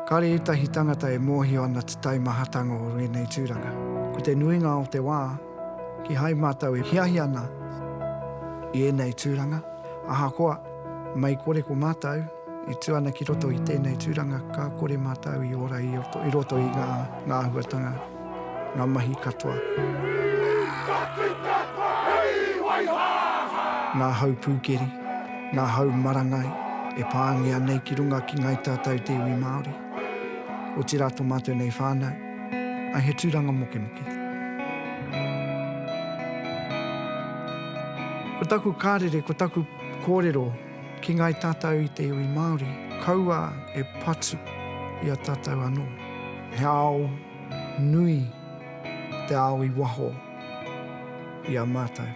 Kāre ētahi tangata e mōhio ana te taimahatanga o wēnei tūranga. Ko te nuinga o te wā, kihai mātou e hiahia ana i ēnei tūranga, ahakoa, mei kore ko mātou e tū ana ki roto i tēnei tūranga, ka kore mātou i ora i roto i ngā āhuatanga. ngā mahi katoa. Ngā hau pūkeri, ngā hau marangai e pāngia nei ki runga ki ngāi tātau te iwi Māori, otirā tō mātou nei whānau, ā, he tūranga mokemoke. Ko taku kārere, ko taku kōrero. Ki ngai tātou i te iwi Māori, kaua e patu i a tātou anō. He ao nui te ao i waho i a mātou.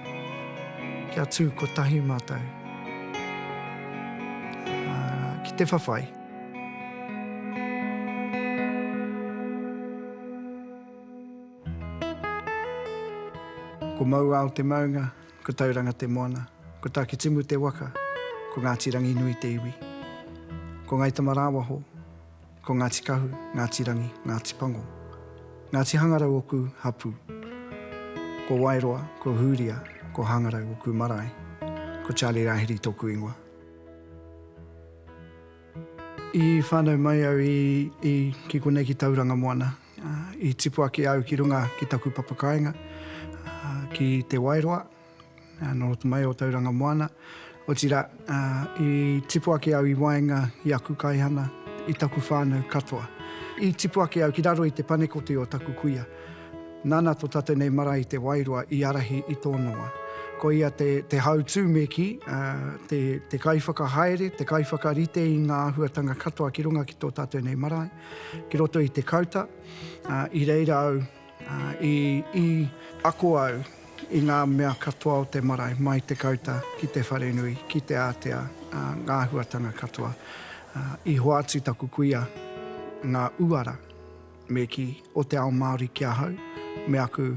Kia tū kotahi mātou ki te whawhai. Ko Mauao te maunga. Ko Tauranga te moana. Ko Takitimu te waka. Ko Ngāti Ranginui te iwi. Ko Ngai Tamarāwaho, ko Ngāti Kahu, Ngāti Rangi, Ngāti Pango. Ngāti Hangarau oku hapū. Ko Waeroa, ko Hūria, ko Hangarau oku marae. Ko Charlie Rahiri tōku ingoa. I whānau mai au i, i, ki konei ki Tauranga moana. I tipu ake au ki runga ki taku papakāinga, ki Te Wairoa, nō roto mai o Tauranga Moana. Otirā, i tipu ake au i waenga i aku kaihana, i taku whānau katoa. I tipu ake au ki raro i te panekoti o taku kuia. Nāna tō tātou nei marae i Te Wairoa i ārahi i tōna wā. Ko ia te hautū me kī, te kaiwhakahaere, te kaiwhakarite i ngā āhuatanga katoa ki runga ki tō tātou nei marae. Ki roto i te kauta, i reira au i ako au i ngā mea katoa o te marae, mai te kauta ki te wharenui, ki te ātea, ngā āhuatanga katoa. I hoatu taku kuia ngā uara me kī o te ao Māori ki ahau, me aku,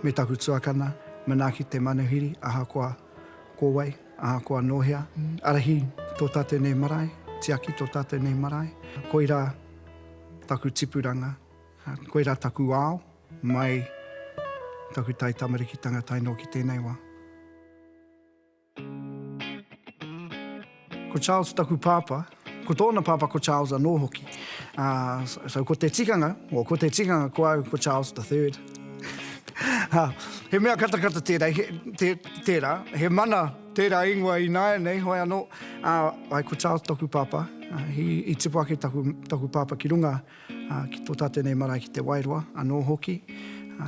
me taku tuakana, manaaki te manuhiri, ahakoa. Ko wai, ahakoa nō hea, ārahi tō tātou nei marae, tiaki tō tātou nei marae. Koirā taku tipuranga, koirā taku ao, mai taku taitamarekitanga tae noa ki tēnei wā. Ko Charles taku pāpā. Ko tōna pāpā ko Charles anō hoki. Uh, so, so ko te tikanga, o ko te tikanga ko au, ko Charles the Third. ha, he mea katakata tērā, he, te, tērā, he mana tērā ingoa i nāia nei, hoi anō, uh, ai ko Charles taku pāpā, uh, he, i tipu ake taku, taku pāpā ki runga, Ki tō tātou nei marae ki Te Wairoa anō hoki,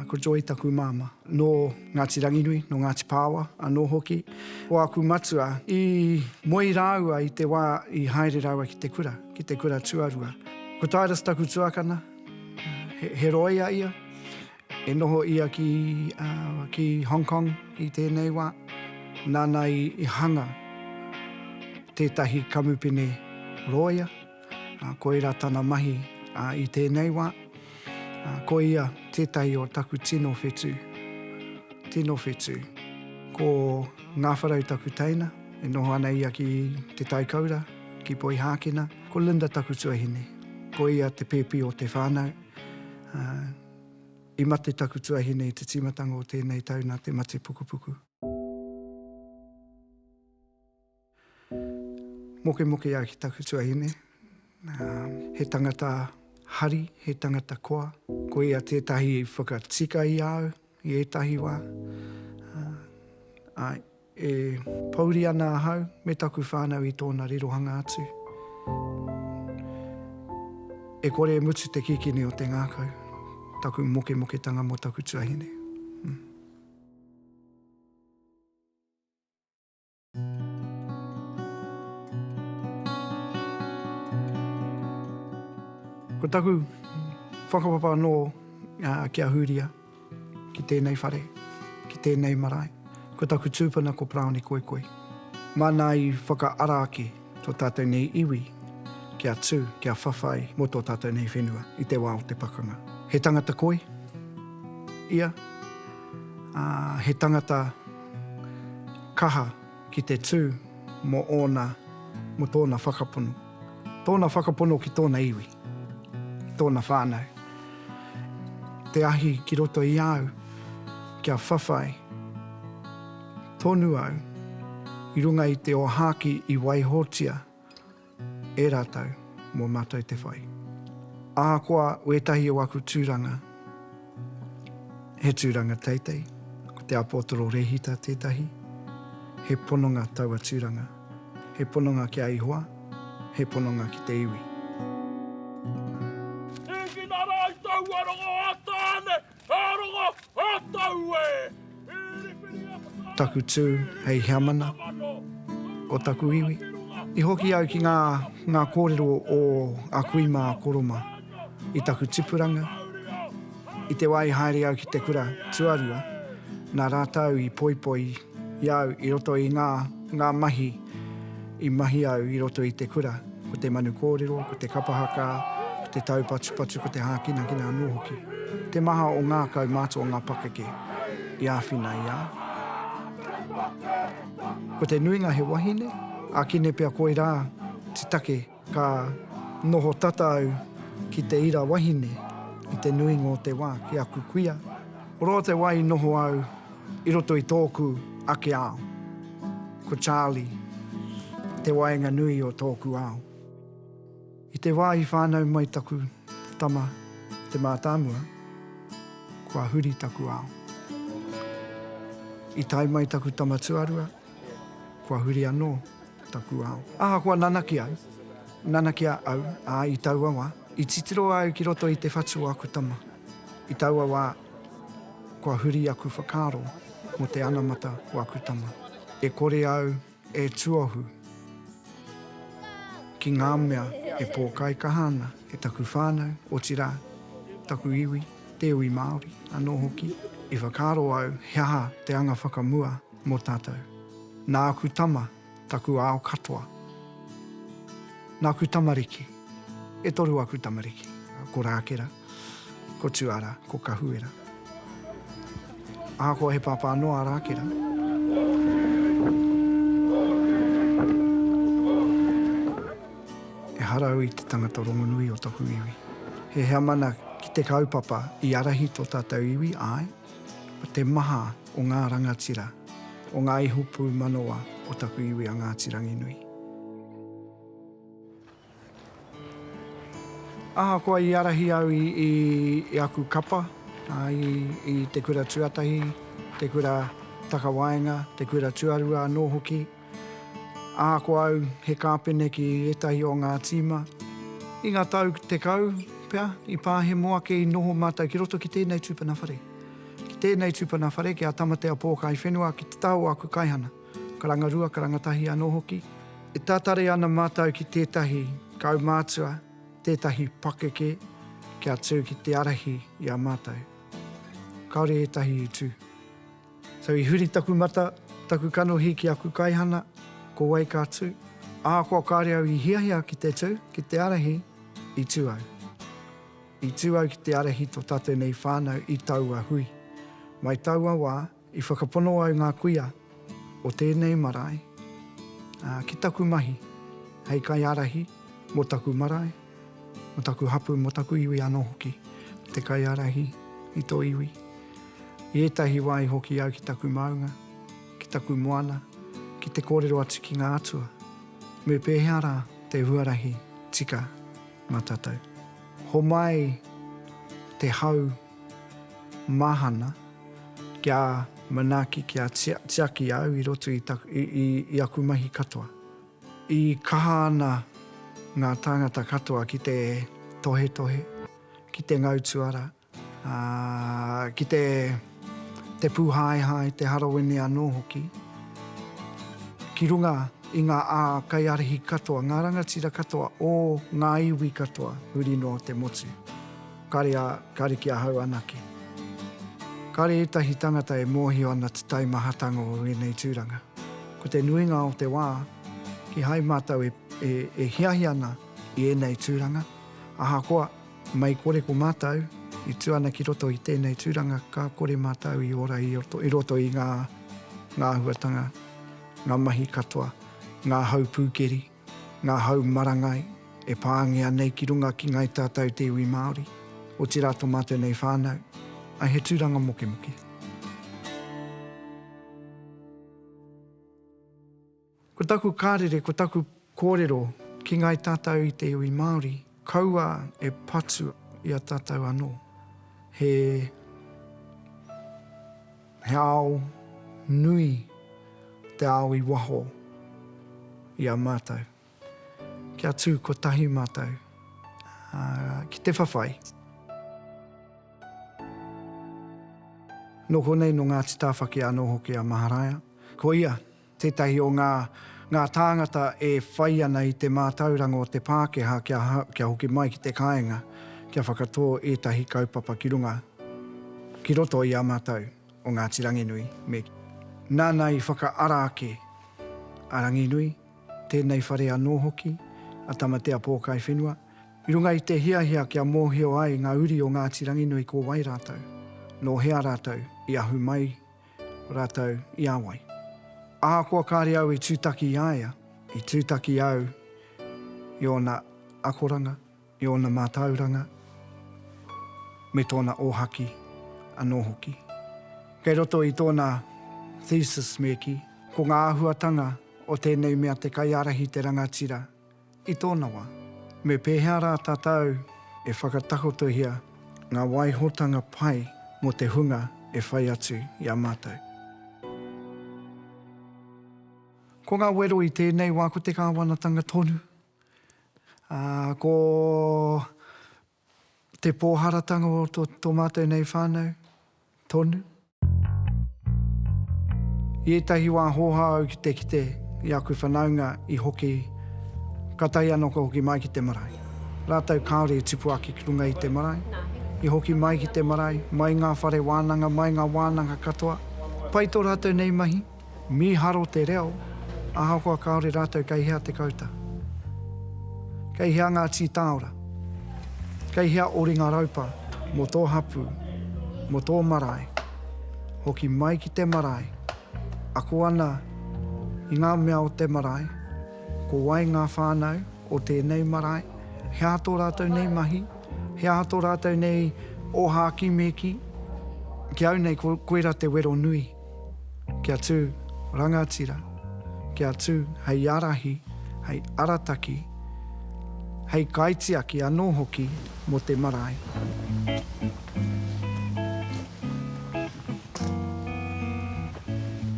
ko Joy taku māmā. Nō Ngāti Ranginui, nō Ngāti Pāoa anō hoki ko aku matua. I moe rāua i te wā i haere rāua ki te kura, ki te kura tuarua. Ko Tyrus taku tuakana, he rōia ia. I noho ia ki Hong Kong i tēnei wā. Nāna i hanga tētahi kamupene rōia. Koirā tana mahi i tēnei wā. Ko ia tētahi o taku tino whetū. Tino whetū. Ko Ngāwharau taku teina, e noho ana ia ki Te Taikaura, ki Poihākena. Ko Linda taku tuahine. Ko ia te pēpi o te whānau. I mate taku tuahine i te tīmatanga o tēnei tau nā te mate pukupuku. Mokemoke ia ki taku tuahine. He tangata hari, he tangata koa. Ko ia tētahi i whakatika i a au i ētahi wā. Āe, e pouri ana ahau me taku whānau i tōna rirohanga atu. E kore e mutu te kikini o te ngākau, taku mokemoketanga mō taku tuahine. Ko taku whakapapa anō ki a Hūria, ki tēnei whare, ki tēnei marae, ko taku tūpuna ko Paraone Koikoi. Māna i whakaara ake tō tātou nei iwi kia tū, kia whawhai mō tō tātou nei whenua i te wā o te pakanga. He tangata koi ia, ā, he tangata. Kaha ki te tū mō ōna, mō tōna whakapono. Tōna whakapono ki tōna iwi, ki tōna whānau. Te ahi ki roto i a au kia whawhai tonu au i runga i te ōhākī i waihotia. e rātou mō mātou te whai. Ahakoa wētahi o aku tūranga, he tūranga teitei, ko te Apōtoro Rēhita tētahi, he pononga taua tūranga, he pononga ki a Ihoa, he pononga ki te iwi. Hīkina rātou ua rongo ā Tāne, Ka rongo a tau e! Taku tū hei heamana o taku iwi. I hoki au ki ngā, ngā kōrero o a kui mā a Koroma i taku tipuranga. I te wā i haere au ki te kura tuarua, nā rātau i poipoi I a au i roto i ngā, ngā mahi i mahi au i roto i te kura, ko te manu kōrero, ko te kapa haka, ko te taupatupatu, ko te hākinakina anō hoki. Te maha o ngā kaumātua o ngā pakeke i āwhina i a au. Ko te nuinga he wahine, ākine pea koirā te take. Ka noho tata au ki te ira wahine i te nuinga o te wā ki aku kuia. Roa te wā i noho au i roto i tōku ake ao. Ko Charlie te waenga nui o tōku ao. I te wā i whānau mai taku tama te mātāmua, kua huri taku ao. I tae mai taku tama tuarua. Kua huri anō taku ao. Ahakoa nanakia au, nanakia au, ā, i taua wā, i titiro au ki roto i te whatu o aku tama. I taua wā, kua huri aku whakaaro mō te anamata o aku tama. E kore au e tuohu ki ngā mea e pōkaikaha ana e taku whānau, otirā, taku iwi, te iwi Māori anō hoki. I whakaaro au he aha te anga whakamua. Mō tātou. Nāku tama, taku ao katoa. Nāku tamariki. E toru aku tamariki. Ko Rākera, ko Tuara, ko Kahuera. Ahakoa he pāpā noa a Rākera. Ehara au i te tangata rongonui o taku iwi. He heamana ki te kaupapa i arahi tō tātou iwi, āe, Ko te maha o ngā rangatira, o ngā iho pūmanawa o taku iwi a Ngāti Ranginui. Ahakoa i ārahi au i aku kapa, i Te Kura Tuatahi, Te Kura Takawaenga, Te Kura Tuarua anō hoki, Ā, ko au, he kāpene ki ētahi o ngā tīma. I ngā tau tekau pea i pahemo ake i noho mātou ki roto ki tēnei tūpuna whare. Ki tēnei tūpuna whare, ki a Tamatea Pōkaiwhenua, ki te taha o aku kaihana, karanga rua, karanga tahi anō hoki, e tatari ana mātou ki tētahi kaumātua, tētahi pakeke kia tū ki te ārahi i a mātou. Kāore ētahi i tū. So i huri taku mata, taku kanohi ki aku kaihana, ko wai ka tū? Ahakoa kāre au i hiahia ki te tū, ki te ārahi, i tū au. I tū au ki te ārahi tō tātou nei whānau i taua hui. Mai taua wā, i whakapono au ngā kuia o tēnei marae ki taku mahi hei kaiārahi mō taku marae, Mo taku hapu, mo taku iwi ano hoki, mo te kaiarahi i to iwi. I etahi wa i hoki au ki taku maunga, ki taku moana, ki te korero atu ki nga atua, me pehea ra te huarahi tika ma tatou. Homai te hau mahana kia manaki, kia tiaki au i roto i aku mahi katoa. E kaha ana ngā tāngata katoa ki te tohetohe, ki te ngau tuara, ā, ki te, te pūhaehae, te harawene anō hoki. Ki runga i ngā ākaiarihi katoa, ngā rangatira katoa o ngā iwi katoa huri noa te motu. Kare a, kare ki ahau anake. Kare etahi tangata e mohio ana te taimahatanga o enei turanga. Ko te nuinga o te wa, kihai matou e, e, e hiahia ana i enei turanga, ahakoa, mei kore ko matou i tu ana ki roto i tenei turanga ka kore matou i ora i roto, i roto i nga, nga ahuatanga, nga mahi katoa, nga hau pukeri. Ngā hau marangai e pāngia nei ki runga ki ngai tātou te iwi Māori, otirā to mātou nei whānau, ai he tūranga mokemoke. Ko taku kārere, ko taku kōrero ki ngai tātou i te iwi Māori, kaua e patu i a tātou anō. He He ao nui te ao i waho i a mātou. Kia tū kotahi mātou ki te whawhai. Nō konei, nō Ngāti Tāwhaki anō hoki a Maharaia. Koia Tētahi o ngā ngā tāngata e whai ana i te mātauranga o te Pākehā kia kia hoki mai ki te kāinga kia whakatō ētahi kaupapa ki runga ki roto i a mātou o Ngāti Ranginui me nāna i whakaara ake a Ranginui, tēnei whare anō hoki, a Tamatea Pōkaiwhenua, i runga i te hiahia kia mōhio ai ngā uri o Ngāti Ranginui ko wai rātou, nō hea rātou i ahu mai Ratou i a wai. Ahakoa kare au i tutaki i a ia, i tutaki au i ona akoranga, i ona matauranga, me tona ohaki ano hoki. Kei roto i tona thesis me ki, ko nga ahuatanga o tenei mea te kaiarahi te rangatira I tōna wā, me pēhea rā tātou e whakatakotohia ngā waihotanga pai mō te hunga e whai atu i a mātou? Ko ngā wero i tēnei wā ko te Kāwanatanga tonu, ā, ko. Te pōharatanga o tō mātou nei whānau, tonu. I ētahi wā hōhā au ki te kite i aku whanaunga i hoki ka tahi anō ka hoki mai ki te marae. Rātou kāore i tipu ake ki runga i te marae, i hoki mai ki te marae, mai ngā whare wānanga, mai ngā wānanga katoa. Pai tō rātou nei mahi. Mīharo te reo, ahakoa kāore rātou kei hea te kauta. Kei hea ngā tītāora? Kei hea ō ringa raupa mō tō hapū, mō tō marae, hoki mai ki te marae, ako ana i ngā mea o te marae, ko wai ngā whānau o tēnei marae, he aha tō rātou nei mahi, he aha tō rātou nei ōhākīmēkī, ki au nei ko koira te wero nui. Kia tū, rangatira, kia tū hei ārahi, hei arataki, hei kaitiaki anō hoki mō te marae.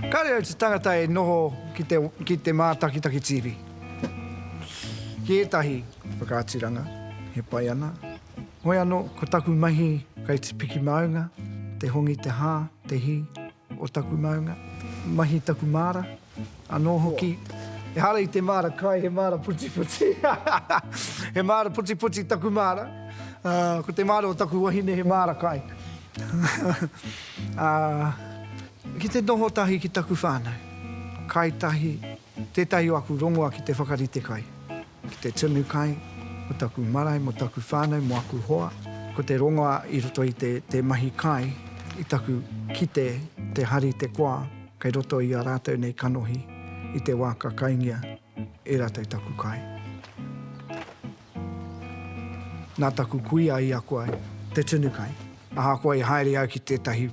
Kāre au te tangata e noho ki te mātakitaki TV, ki ētahi whakaaturanga e pai ana, Hoi ano ko taku mahi kai tipiki maunga, te hongi te ha, te hi o taku maunga, mahi taku mara, ano hoki, ehara i te mara kai he mara putiputi he mara putiputi taku mara, ko te mara o taku wahine he mara kai a ki te noho tahi ki taku whanau, kai tahi tetahi o aku rongoa ki te whakarite kai. Ki te tunu kai, mo taku marae, mo taku whanau, mo aku hoa. Ko te rongoa i roto i te te mahi kai, i taku kite, te hari, te koa, kei roto i a ratou nei kanohi, i te wa ka kaingia e ratou taku kai. Na taku kuia i ako ai, te tunu kai. Ahakoa i haere au ki tētahi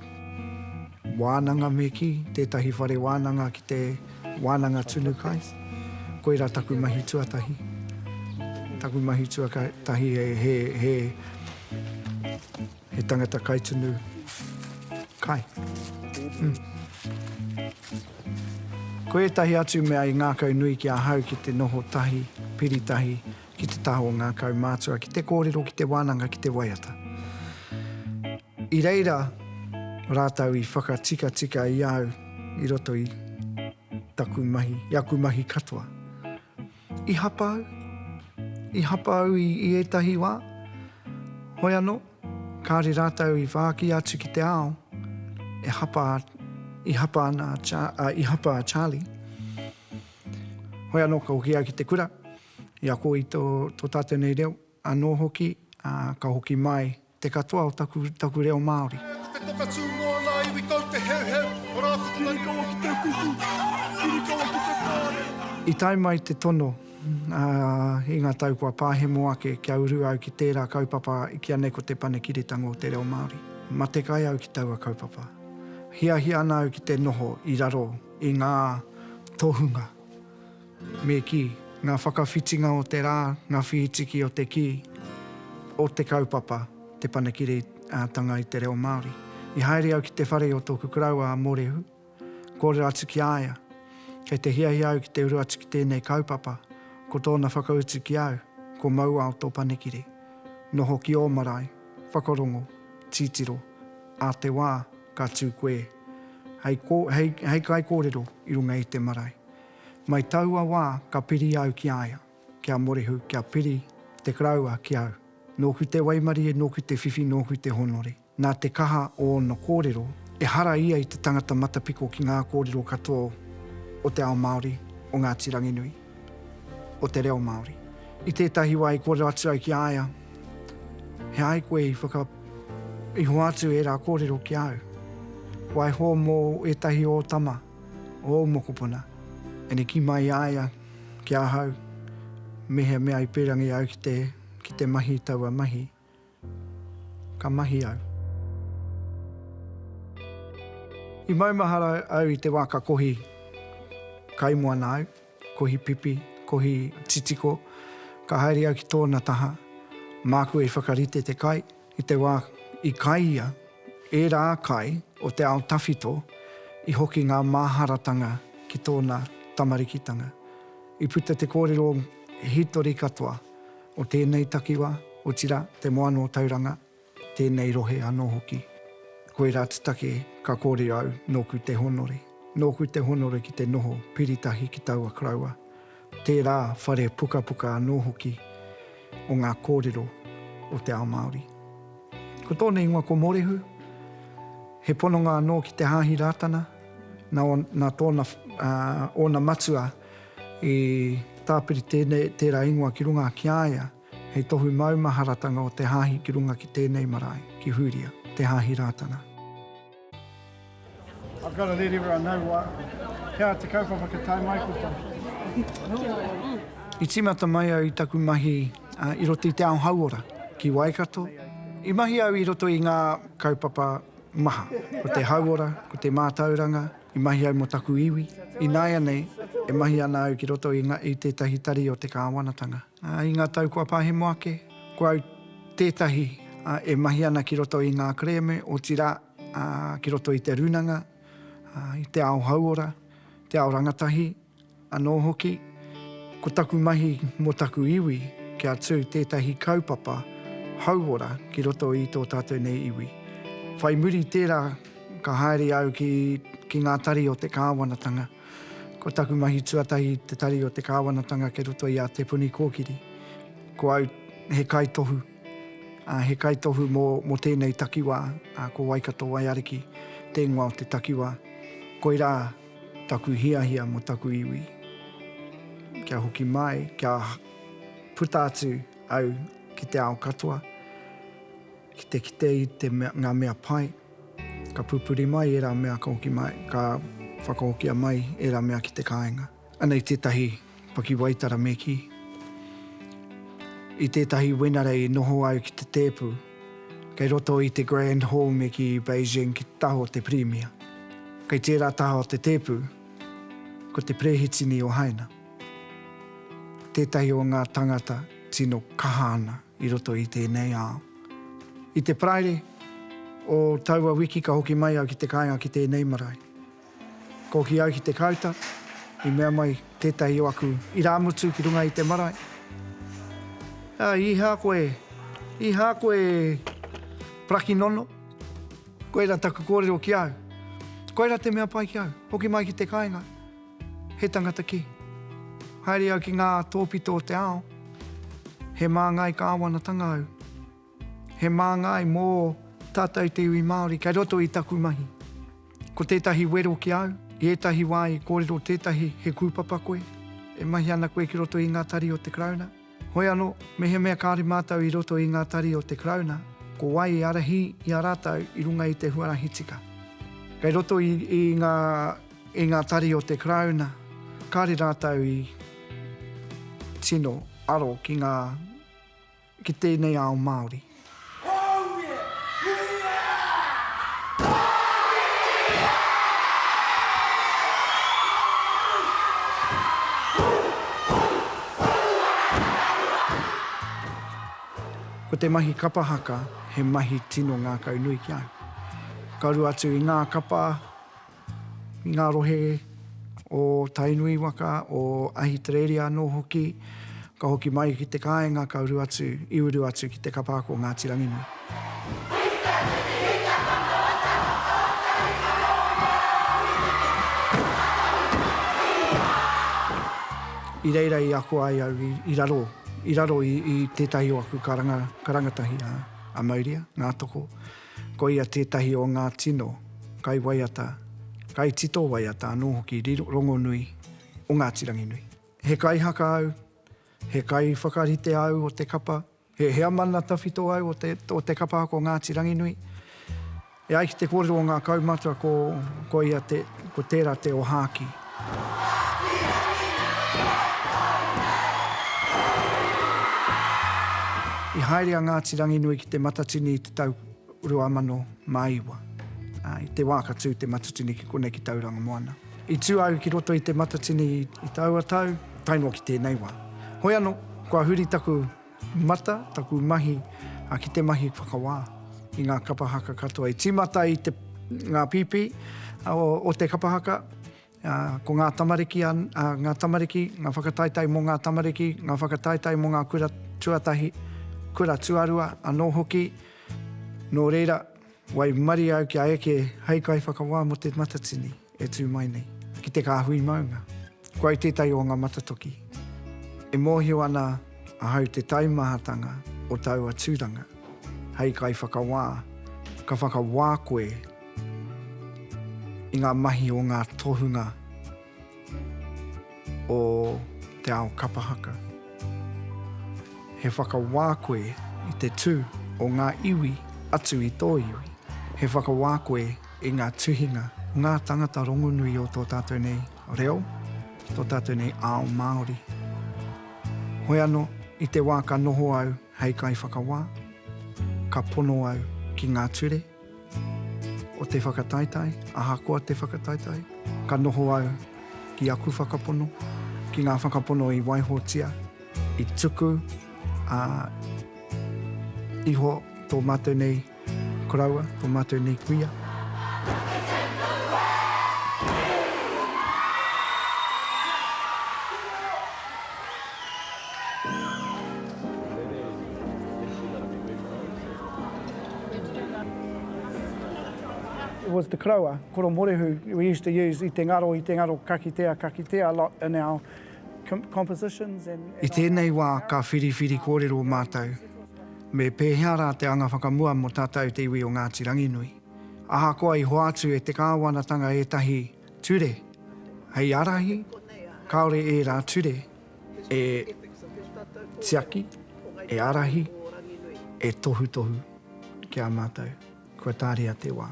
wānanga me kī, tētahi whare wānanga ki te wānanga tunu kai, koirā taku mahi tuatahi. Taku mahi tuatahi he tangata kai tunu kai. Ko ētahi atu mea i ngākau nui ki ahau ki te noho tahi, piri tahi, Ki te taha o ngā kaumātua, ki te kōrero, ki te wānanga, ki te waiata. I reira rātou i whakatikatika i au i roto i taku mahi, i aku mahi katoa. I hapa au, i hapa au i ētahi wā, hoi anō, kāre rātou i whāki atu ki te ao, e hapa, i hapa ana a, i hapa a Charlie. Hoi anō ka hoki au ki te kura. I ako i tō tātou nei reo, anō hoki, ka hoki mai te katoa o taku reo Māori. Ko te pokatū mō ngā iwi kau te heuheu o rā whakamarukawa ki te ukuku, kurikawa ki te whārei. I tae mai te tono i ngā tau kua pāhemo ake kia uru au ki tērā kaupapa i kīa nei ko Te Panekiretanga o te Reo Māori. Matekai au ki taua kaupapa. Hiahia ana au ki te noho i raro i ngā tohunga. Me kī, ngā whakawhitinga o te rā, ngā whītiki o te kī, o te kaupapa, te panekiretanga i te reo Māori. I haere au ki te whare o tōku karaua a Mōrehu, kōrero atu ki a ia, kei te hiahia au ki te uru atu ki tēnei kaupapa, ko tōna whakautu ki au, ko Mauao tō panekire. Noho ki ō marae, whakarongo, titiro, ā te wā, ka tū koe hei, hei, hei kaikōrero i runga i te marae. Mai taua wā ka piri au ki a ia, ki a Morehu, kia piri te Karaua ki au. Nōku te waimarie, nōku te whiwhi, nōku te hōnore. Nā te kaha o ōna kōrero, ehara ia i te tangata matapiko ki ngā kōrero katoa o te ao Māori, o Ngāti Ranginui, o te reo Māori. I tētahi wā i kōrero atu au ki a ia, He āe koe i whaka, i hoatu ērā kōrero ki au? Waiho mō ētahi o ō tama? Ō mokopuna, ina kī mai i a ia ki ahau mehea mea i pērangi au ki te, ki te mahi i taua mahi, ka mahi au. I maumahara au i te wā ka kohi kaimoana au, kohi pipi, kohi titiko, ka haere au ki tōna taha, māku e whakarite te kai, I te wā i kai ia, ērā kai o te ao tawhito i hoki ngā māharatanga ki tōna tamarikitanga. I puta te kōrero hītori katoa o tēnei takiwā, otirā, te moana o Tauranga, tēnei rohe anō hoki. Koirā te take ka kōrero au, nōku te honore. Nōku te honore ki te noho piritahi ki taua koroua. Tērā whare pukapuka anō hoki o ngā kōrero o te ao Māori. Ko tōna ingoa ko Morehu, he pononga anō ki te Hāhi Rātana, nā, nā tōna, ā, ōna matua i tāpiri tēnei, tērā ingoa ki runga ki a ia, hei tohu maumaharatanga o te Hāhi ki runga ki tēnei marae, ki Hūria, te Hāhi Rātana. I've got to let everyone know why. Kia ora te kaupapa kia tae mai koutou. I tīmata mai au i taku mahi i roto i te ao hauora ki Waikato. I mahi au i roto i ngā kaupapa maha, ko te hauora, ko te mātauranga, i mahi au mō taku iwi. Ināianei, e mahi ana au ki roto i tētahi tari o te kāwanatanga. I ngā tau kua pahemo ake, ko au tētahi e mahi ana ki roto i ngā kerēme, otirā, ki roto i te rūnanga, i te ao hauora, te ao rangatahi anō hoki. Ko taku mahi mō taku iwi, kia tū tētahi kaupapa hauora ki roto i tō tātou nei iwi. Whai muri i tērā, ka haere au ki ngā tari o te kāwanatanga. Ko taku mahi tuatahi te tari o te kāwanatanga kei roto i a Te Puni Kōkiri. Ko au he kaitohu, he kaitohu mō tēnei takiwā, ko Waikato Waiariki te ingoa o te takiwā. Koirā taku hiahia mō taku iwi, kia hoki mai, kia puta atu au ki te ao katoa. Ki te kite i te mea, ngā mea pai, ka pupuri mai ērā mea ka hoki mai, ka whakahokia mai ērā mea ki te kāinga. Anei tētahi pakiwaitara me kī, I tētahi wenerei i noho au ki te tēpu, kei roto i te Grand Hall me kī i Beijing ki te taha o te Pirimia. Kei tērā taha o te tēpu, ko te Perehitini o Haina, tētahi o ngā tāngata tino kaha ana. I roto i tēnei ao. I te Paraire o taua wiki ka hoki mai au ki te kāinga ki tēnei marae. Ka hoki au ki Te Kāuta, i mea mai tētahi o aku irāmutu ki runga i te marae, Ā, i hā koe? I hā koe Parakinono? Koira taku kōrero ki au. Koira te mea pai ki au, hoki mai ki te kāinga. He tangata kē. Haere au ki ngā tōpito o te ao. He māngai kāwanatanga au. He māngai mō tātou te iwi Māori kei roto i taku mahi. Ko tētahi wero ki au, i ētahi wā i kōrero tētahi he kūpapa koe, e mahi ana koe ki roto i ngā tari o te Karauna, Hoi anō, mehemea kāore mātou i roto i ngā tari o te Karauna, ko wai i ārahi i a rātou i runga i te huarahi tika? Kei roto i, i ngā, i ngā tari o te Karauna, kāore rātou i tino aro ki ngā, ki tēnei ao Māori. Ko te mahi kapa haka he mahi tino ngākaunui ki a au. Ka uru atu i ngā kapa i ngā rohe o Tainui waka, o Ahitereiria anō hoki, ka hoki mai ki te kāinga ka uru atu, i uru atu ki te kapa ako o Ngāti Ranginui. I reira i ako ai au i raro, i raro i tētahi o aku karanga, karangatahi a Mauria, Ngātoko. Koia tētahi o ngā tino kaiwaiata, kaitito waiata anō hoki rongonui o Ngāti Ranginui. He kaihaka au, he kaiwhakarite au o te kapa, he heamana tawhito au o te kapa ako Ngāti Ranginui. E ai ki te kōrero o ngā kaumātua ko koia te, ko tērā te ōhākī. I haere a Ngāti Ranginui ki Te Matatini i te tau 2009. I te wā ka tū Te Matatini ki konei ki Tauranga Moana. I tū au ki roto i Te Matatini i taua tau, tae noa ki tēnei wā. Hoi anō, kua huri taku. Mata taku mahi ki te mahi whakawā i ngā kapa haka katoa i tīmata i te ngā pīpī o te kapa haka, ko ngā tamariki, ngā tamariki, ngā whakataetae mō ngā tamariki, ngā whakataetae mō ngā kura tuatahi, kura tuarua anō hoki, nō reira, Waimarie au kia eke hei kaiwhakawā mō te Matatini e tū mai nei, ki te kāhui maunga. Ko au tētahi o ngā matatoki e mōhio ana ahau te taimahatanga o taua tūranga. Hei kaiwhakawā, ka whakawā koe i ngā mahi o ngā tohunga o te ao kapa haka. He whakawā koe i te tū o ngā iwi atu i tō iwi. He whakawā koe i ngā tuhinga, ngā tāngata rongonui o tō tātou nei reo, tō tātou nei ao Māori. Hoi anō, i te wā ka noho au hei kaiwhakawā, ka pono au ki ngā ture, O te whakataetae, ahakoa te whakataetae, ka noho au ki aku whakapono, ki ngā whakapono i waihotia, i tuku, ā, iho tō mātou nei koroua, tō mātou nei kuia. It was the koroua, koro morehu, we used to use i te ngaro, i te ngaro kakitea, kakitea a lot in our compositions and. I tēnei wā ka whiriwhiri kōrero mātou me pēhea rā te anga whakamua mō tātou te iwi o Ngāti Ranginui. Ahakoa i hoatu e te kāwanatanga ētahi ture hei ārahi, kāore ērā ture. e tiaki, e ārahi, e tohutohu ki a mātou. Kua tāria te wā.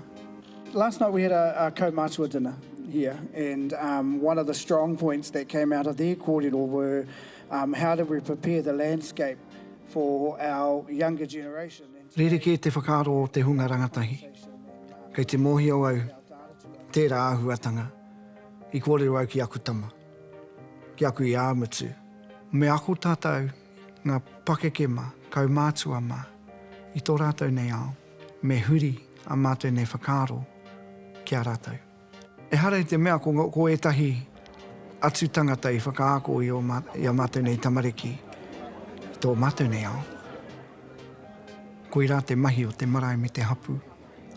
Last night we had a kaumātua dinner here and one of the strong points that came out of their kōrero were how do we prepare the landscape for our younger generation. Rerekē te whakaaro o te hunga rangatahi. Kei te mōhio au tērā āhuatanga i kōrero au ki aku tama. Ki aku i ā mutu. Me ako tātou ngā pakeke mā, kaumātua mā, i tō rātou nei ao, me huri ā mātou nei whakaaro ki a rātou. Ehara i te mea ko ētahi atu tangata i whakaako i ā mātou nei tamariki i tō mātou nei ao. Koirā te mahi o te marae me te hapū.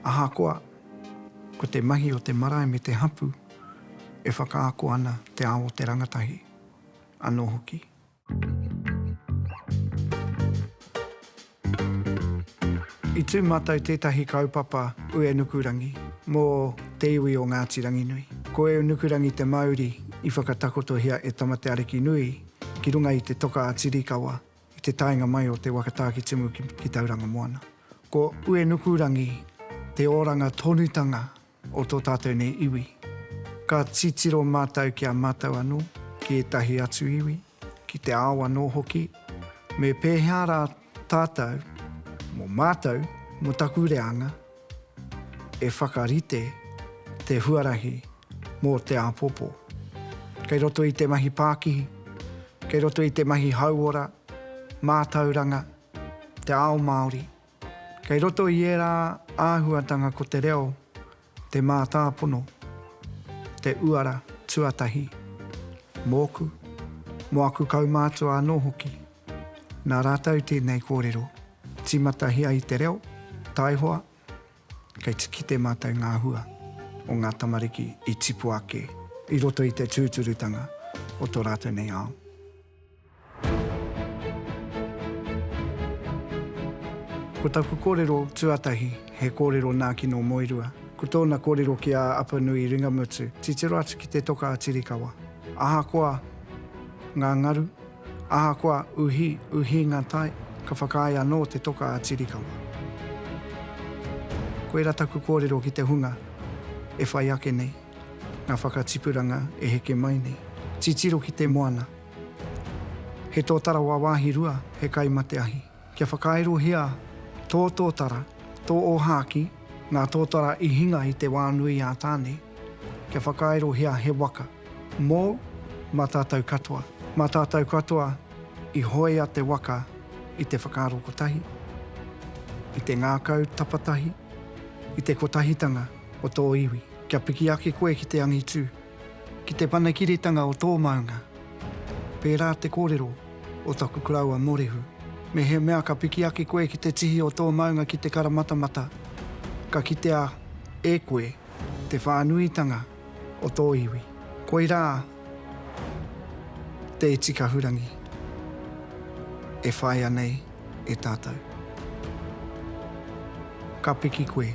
Ahakoa. Ko te mahi o te marae me te hapū e whakaako ana te ao o te rangatahi anō hoki. I tū mātou tētahi kaupapa Uenukurangi mō te iwi o Ngāti Ranginui. Ko Eunukurangi te mauri i whakatakotohia e Tamatearekinui ki runga i te toka a Tirikawa I te taenga mai o te waka Tākitimu ki Tauranga Moana, ko Uenukurangi te oranga tonutanga o tō tātou nei iwi. Ka titiro mātou ki a mātou anō, ki ētahi atu iwi, ki te ao anō hoki, me pēhea rā tātou, mō mātou, mō taku reanga, E whakarite te huarahi mō te āpōpō. Kei roto i te mahi pākihi, kei roto i te mahi hauora, mātauranga, te ao Māori, kei roto i ērā āhuatanga ko te reo, te mātāpono, te uara tuatahi, mōku, mō aku kaumātua anō hoki. Nā rātou tēnei kōrero tīmatahia i te reo, taihoa, kei te kite mātou ngā hua o ngā tamariki i tipu ake i roto i te tūturutanga o tō rātou nei ao. Ko taku kōrero tuatahi, he kōrero nā Kino Moerua. Ko tōna kōrero ki a Apanui Ringamutu, titiro atu ki te toka a Tirikawa. Ahakoa ngā ngaru, Ahakoa uhi, uhi nga tai, ka whakaae anō te toka a Tirikawa. Koira taku kōrero ki te hunga e whai ake nei, nga whakatipuranga e heke mai nei. Titiro ki te moana. He tōtara wāwāhi rua, he kai mate ahi. Kia whakairohia tō tōtara, tō ōhākī, ngā tōtara i hinga i te wā nui ā Tāne, kia whakairohia he waka, mōu, mā tātou katoa. Mā tātou katoa i hoea te waka i te whakaaro kotahi, i te ngākau tapatahi, i te kotahitanga o tō iwi. Kia piki ake koe ki te angitū. Ki te whanakiritanga o tō maunga. Pērā te kōrero o taku koroua Morehu. Mehemea ka piki ake koe ki te tihi o tō maunga ki te karamatamata, ka kitea e koe te whānuitanga o tō iwi. Koirā te iti kahurangi e whaia nei. e tātou. Ka piki koe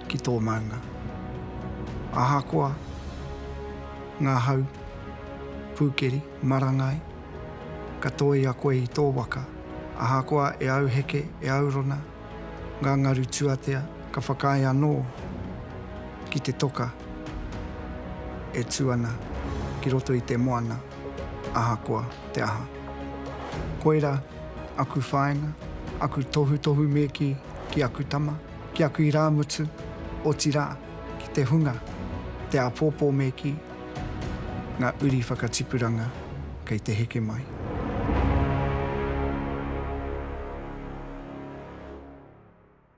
ki tō maunga. Ahakoa ngā hau, pūkeri, marangai, ka tōia koe i tō waka. Ahakoa e auheke, e aurona ngā ngaru tuatea, ka whakaae anō ki te toka e tū ana ki roto i te moana. ahakoa te aha. Koira aku whāinga, aku tohutohu me kī, ki aku tama, ki aku irāmutu, otirā, ki te hunga, te āpōpō me kī, ngā uri whakatipuranga kei te heke mai.